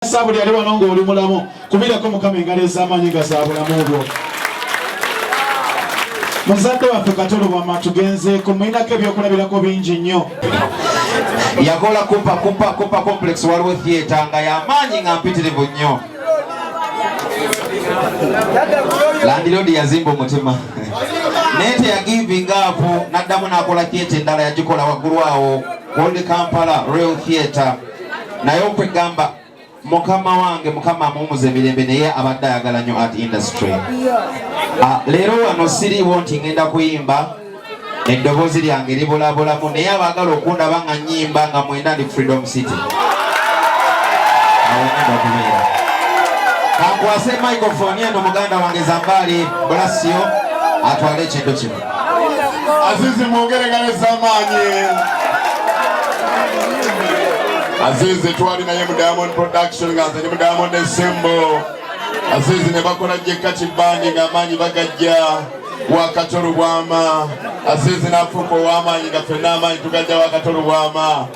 Yesu buli ali wano ng'oli mulamu kubirako mukama engalo ez'amaanyi nga za bulamu bwo muzadde waffe katolubama tugenzeeko mulinako ebyokulabirako bingi nnyo yakola kupa kupa kupa complex waliwo theatre nga yamaanyi nga mpitirivu nnyo landiroodi yazimba omutima naye teyagivinga apo n'addamu n'akola theatre endala yagikola waggulu awo old kampala real theatre naye okwegamba mukama wange mukama amuwumuza emirembe naye abadde ayagala nyo art industry ah, leero wano siriiwo nti ngenda kuyimba eddoboozi lyange libulabulamu naye abaagala okundaba nga nyimba nga mwenda ndi freedom city kankwase microfoni eno muganda wange zambaali bulasiyo atwale ekintu kino Azizi mwongere nga nezamaanyi. Azizi twali naye mu Diamond Production nga nze mu Diamond Ensembo. Azizi ne bakola Jekati Band nga amaanyi bagajja wakatolubwama. Azizi n'afuuka ow'amaanyi nga ffenna amaanyi tugajja wakatolubwama.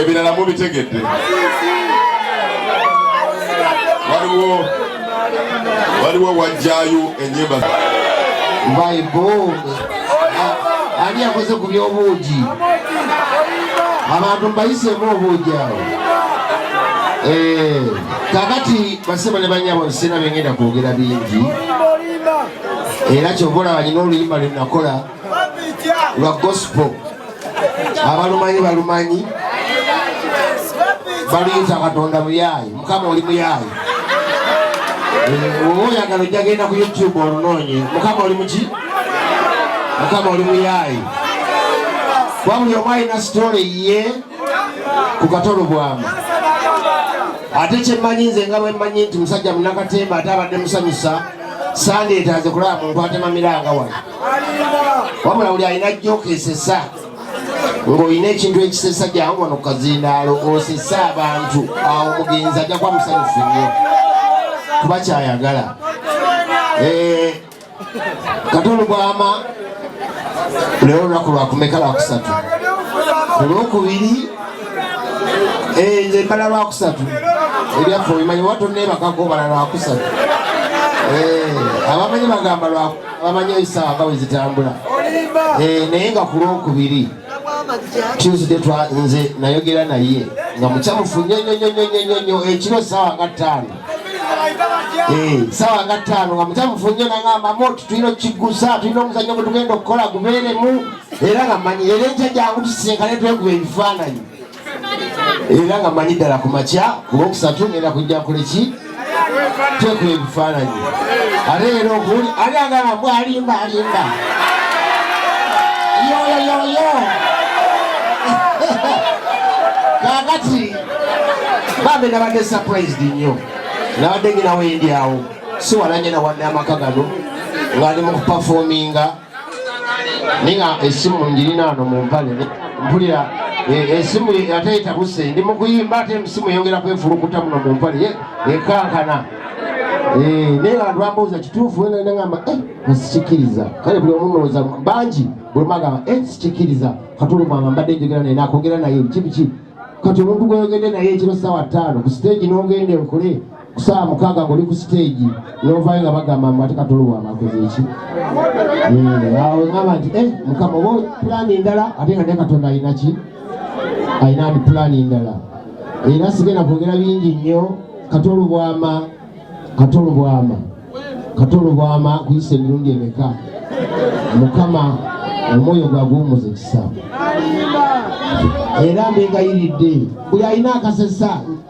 ebirala mubitegedde waliwo waliwo wajjayo enyimba ani yakoze ku byobuugi abantu mbayisemu obuugi awo eh, kakati basema ne banyabo nsina bengenda kwogera bingi era kyova olaba nina oluyimba lwe nakola lwa gospel abalumanyi balumanyi baluyita katonda muyaayi mukama oli muyaayi oba oyagala ojja genda ku youtube olunoonye mukama oli muki mukama oli muyaayi kuba buli omu alina sitole ye ku katolo bwamu ate kyemmanyi nze nga bwemmanyi nti musajja munakatemba ate abadde musanyusa sande etaze kulaba muntu atemamiranga wano wabula buli alina jokesesa ng'olina ekintu ekisesa jangu wano kukazindaalo osese abantu awo omugenzi ajja kuba musanyufu nnyo kuba kyayagala eh, kati olubwama leero lunaku lwakumeka lwakusatu olwokubiri Eh, nze mbala lwakusatu ebyaffe obimanyi oba tonneebakako obala lwakusatu eh, abamanyi bagamba abamanyi ebisawa nga wezitambula eh, naye nga ku lwokubiri tuesday nze nayogera naye nga mukyamufu nyonyonyonyonyonyo ekiro sawa nga ttaano sawa nga ttaano nga mukyamufu nyo nangamba moti tulina okukigusa tulina omuzanyo gwetugenda okukola gubeeremu era nga manyi era enkya jangu tusisinkane twekuba ebifaananyi era nga manyi ddala ku makya kuba okusatu ngenda kujja kuleki twekuba ebifaananyi ate era okuwuli ali agamba mbw alimba alimba yoyoyoyo kakati bambe nabadde surprised nnyo nabadde nginawo endyawo siwalanye nawadde amaka gano ng'ali mu kupafominga naye nga esimu ngirina ano mu mpale mpulira eh, esimu ate etabuse ndi mu kuyimba ate esimu eyongera kwefulukuta muno mu mpale ekankana eh, naye nga lwambuuza kituufu wena nagamba eh, sikikiriza kale buli omu mulowooza bangi buli magamba sikikiriza katulumanga mbadde njogera naye nakwogera naye kibiki kati omuntu gweyogende naye ekiro sawa ttaano ku siteegi n'ogenda enkole saa mukaaga ngoli ku siteegi novayo nga bagamba mbu ate katolowa bakoze eki eh, awo ngamba nti eh, mukama oba pulaani endala ate nga naye katonda alina ki alina ndi pulaani endala era sigenda kwogera bingi nnyo katolubwama katolubwama katolubwama kuyisa emirundi emeka mukama omwoyo gwaguwumuza ekisa era mbegayiridde buli alina akasesa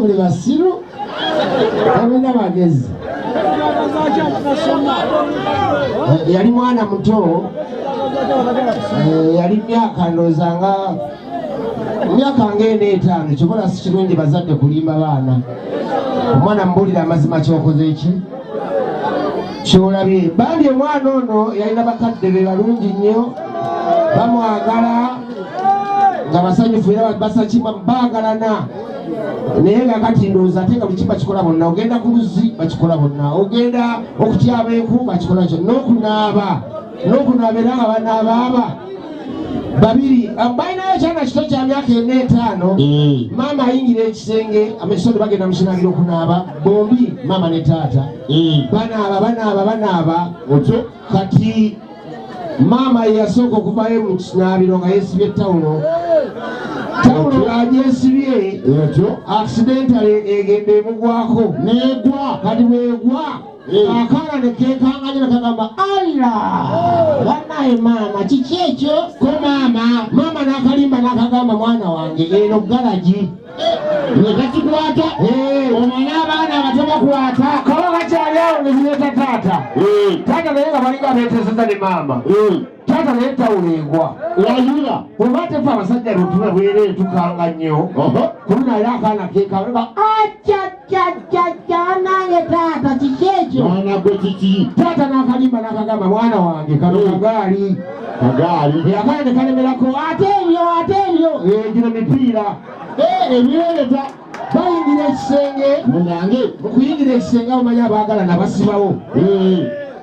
buli basiru tabulina magezi yali mwana muto eh, yali myaka ndooza nga myaka ngaena etaano kyobola si kirungi bazadde kulimba baana omwana mubulira amazima kyokoze ki kyolabye bambi omwana ono yalina bakadde be balungi nnyo bamwagala nga basanyufu era basakima bagalana naye nga kati ndowooza ate nga buki bakikola bonna ogenda ku luzzi bakikola bonna ogenda okutyaba enku bakikola kyo n'okunaaba nokunaaba era nga banaabaaba babiri balinayo ekyana kito kya myaka ena etaano mm. maama ayingira ekisenge amasisoni bagenda mukinabira okunaaba bombi maama ne taata mm. banaaba banaaba banaaba otyo kati maama yeyasooka okuvayo mu kinaabiro nga yesibye tawulo tawulo ng'agyesibye aksidentale egenda emugwako negwa kati bwegwa akaana ne keekanganya ne kagamba alla banaye maama kiki ekyo ko maama maama n'akalimba n'akagamba mwana wange eno galagi ne kakikwata omwana abaana abato bakwata kaba bakyali awo ne zireeta taata taata naye nga balinga beeteseza ne maama taata naye tawula egwa wayula oba tefe abasajja lutula bwereetukanga nnyo kulunaayo akaana keekanga aca kyanange taata kiki ekyo mwana gwe kiki taata nakalimba nakagamba mwana wange kano hmm. kagaali kagaali yakale nekalemerako ate ebyo ate ebyo eh, gino mipiira eh, ebyereta bayingira ekisenge munange okuyingira ekisenge abamanyi abaagala nabasibawo eh.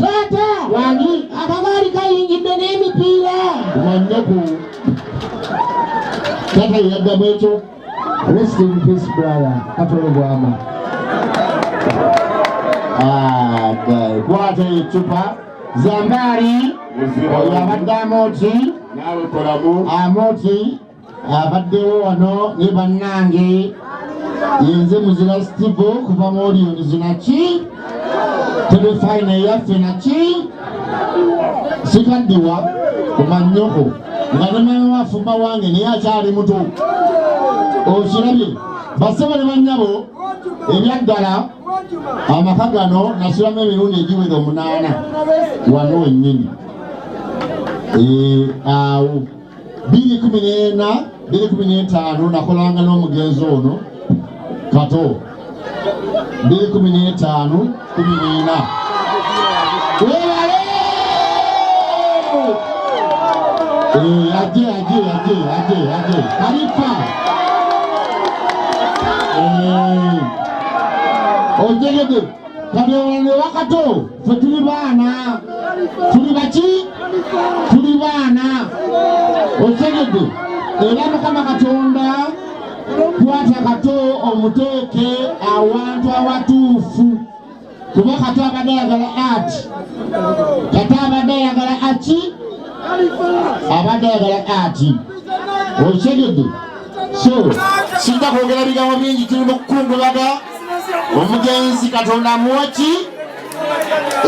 taata wani akagaali kayingidde n'emipiira wannaku taata yeyaddamu ekyo rest in peace brother katolo bwama ah, kwata ecupa zambaali oyo abadde amoti amoti abaddewo wano ne bannange yenze muzira stivo okuva mu oliyonizi naki telefayina eyaffe naki sikaddiwa kumanyoko nga ne mama wafumba wange naye akyali muto okirabye basebo ne bannyabo ebyaddala amaka gano nasulamu emirundi egiwera omunaana wano wennyini eh, awo biri kumi n'ena biri kumi n'etaano nakolanga n'omugenzi ono kato biri kumi n'etaano kumi n'ena webale eh, aje aje aje aje aje kalifa eh, ojegede kati olwo wakato fe tuli baana tuli baki tuli baana okitegedde era mukama katonda kwata kato omuteeke awantu awatuufu kuba kato abadde ayagala at kato abadde ayagala aki abadde ayagala ati okitegedde so sijja kwogera bigambo bingi tuli mu kukungulaga omugenzi katonda amuwa ki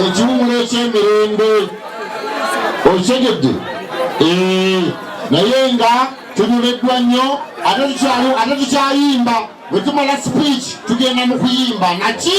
ekiwumulo ekyemirembe okitegedde eh, naye nga tunyumiddwa nnyo ate tukyayimba bwetumala speech tugenda mu kuyimba naki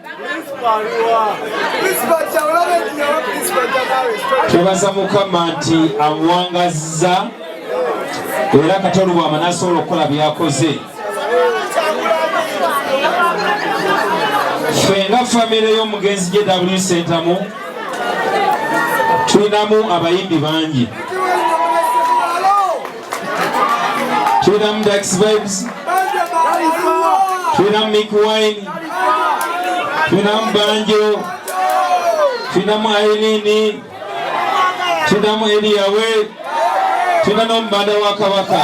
twebaza mukama nti amuwangazza era katonda bwama nasobola okukola byakoze fe nga famire y'omugenzi jw sentamu tulinamu abayimbi bangi Tulina Mdax Vibes, tulina Mick Wine, tulina Mbanjo, tulina mu Aileen, tulina mu Eliyawe, tulina n'omubanda wa Kabaka.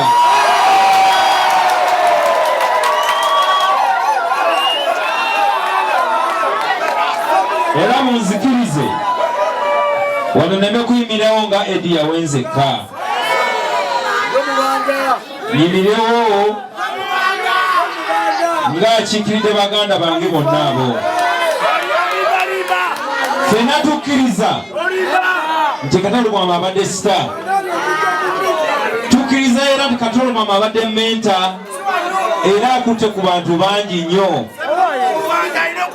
Era munzikirize wano neme kuyimirawo nga Eddie Yawe nzekka. nyimirewo ng'akiikiridde baganda bange bonna abo fena tukkiriza nti katalumama abadde sita tukkiriza era nti katalumama abadde menta era akutte ku bantu bangi nnyo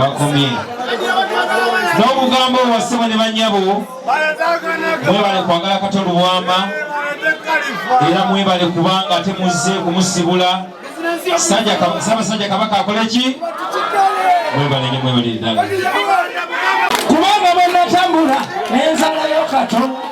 wakomye n'obugambo wasebo ne banyabo mwebale kwagala kato luwama era mwebale kubanga ate muzze kumusibula sabasajja kabaka akoleki mwebale nyo mwebale ddala kubanga bwenatambula nenzalayo kato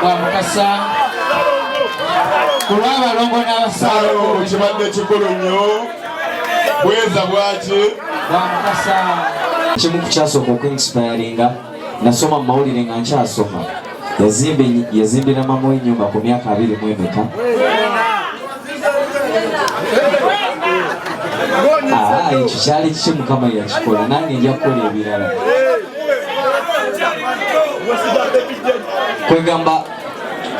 bwa mukasa ku lw'abalongo n'abasaalongo kibadde kikulu nnyo bweza bwaki bwa mukasa kimu ku kyasooka okuinsipayalinga nasoma mu mawulire nga nkyasoma yazimbira mama w'ennyumba ku myaka abiri mu emeka ekyo kyali kiki mukama yakikola nange nja kukola ebirala kwegamba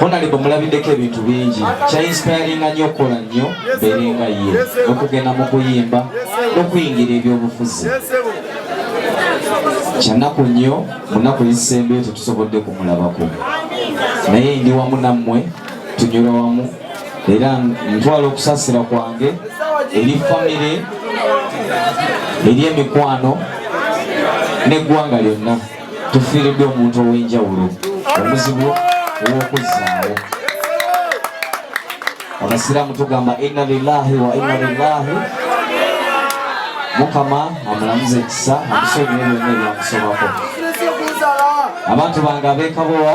honalebo mulabiddeko ebintu bingi kyainsipayaringa nyo okukola nnyo berenga ye okugenda mu kuyimba n'okuyingira ebyobufuzi kyanaku nnyo munaku ezisembeyo tetusobodde kumulabako naye ndi wamu nammwe tunyula wamu era ntwala okusasira kwange eri famire eri emikwano n'eggwanga lyonna tufiiridde omuntu ow'enjawulo omuzibu ow'okuzzaawo abasiraamu tugamba inna lillahi wa inna lillahi mukama amulamuze ekisa amusonyiwe byonna ebyamusobako abantu bange abekabowa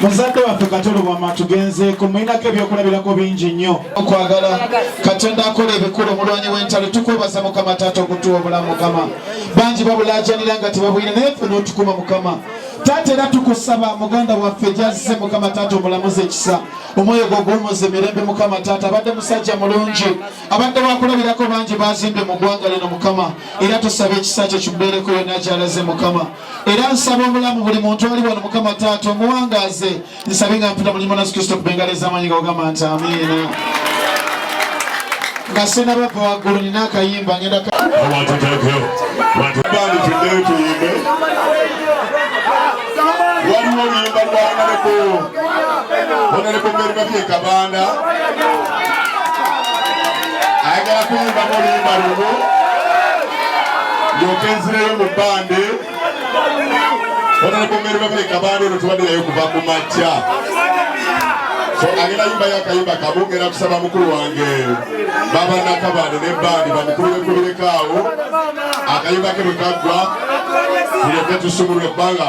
muzadde waffe katolubwama tugenzeeko mulinako ebyokulabirako bingi nnyo okwagala katonda akola ebikulu omulwanyi w'entalo tukwebaza mukama taata okutuwa obulamu mukama bangi babulajanira nga tebabwina naye ffe n'otukuma mukama taata era tukusaba muganda waffe gyazze mukama taata omulamuzi ekisa omwoyo gwo guwumuze mirembe mukama taata abadde musajja mulungi abadde wakulabirako bangi bazimbye mu ggwanga lino mukama era tusaba ekisa kye kimubeereko yonna gyalaze mukama era nsaba obulamu buli muntu ali wano mukama taata omuwangaaze nsabe nga mpita mulimu nasu kristo kubengalo ez'amaanyi nga ogamba nti amiina nga sinabava waggulu nina akayimba ngenda waliwo oluyimba lwangaleko onaleko meri babye kabanda ayagala kuyimbamu oluyimba lumu ndyoke nzireyo mu bande onalabomere bamuleka bande ono tubadde naye okuva ku makya so agenda yimbayo akayimba kamu ngenda kusaba mukulu wange baba nakabande ne bandi bamukulu bekubirekaawo akayimba ke bwe kaggwa tulyoke tusumulwe ebbanga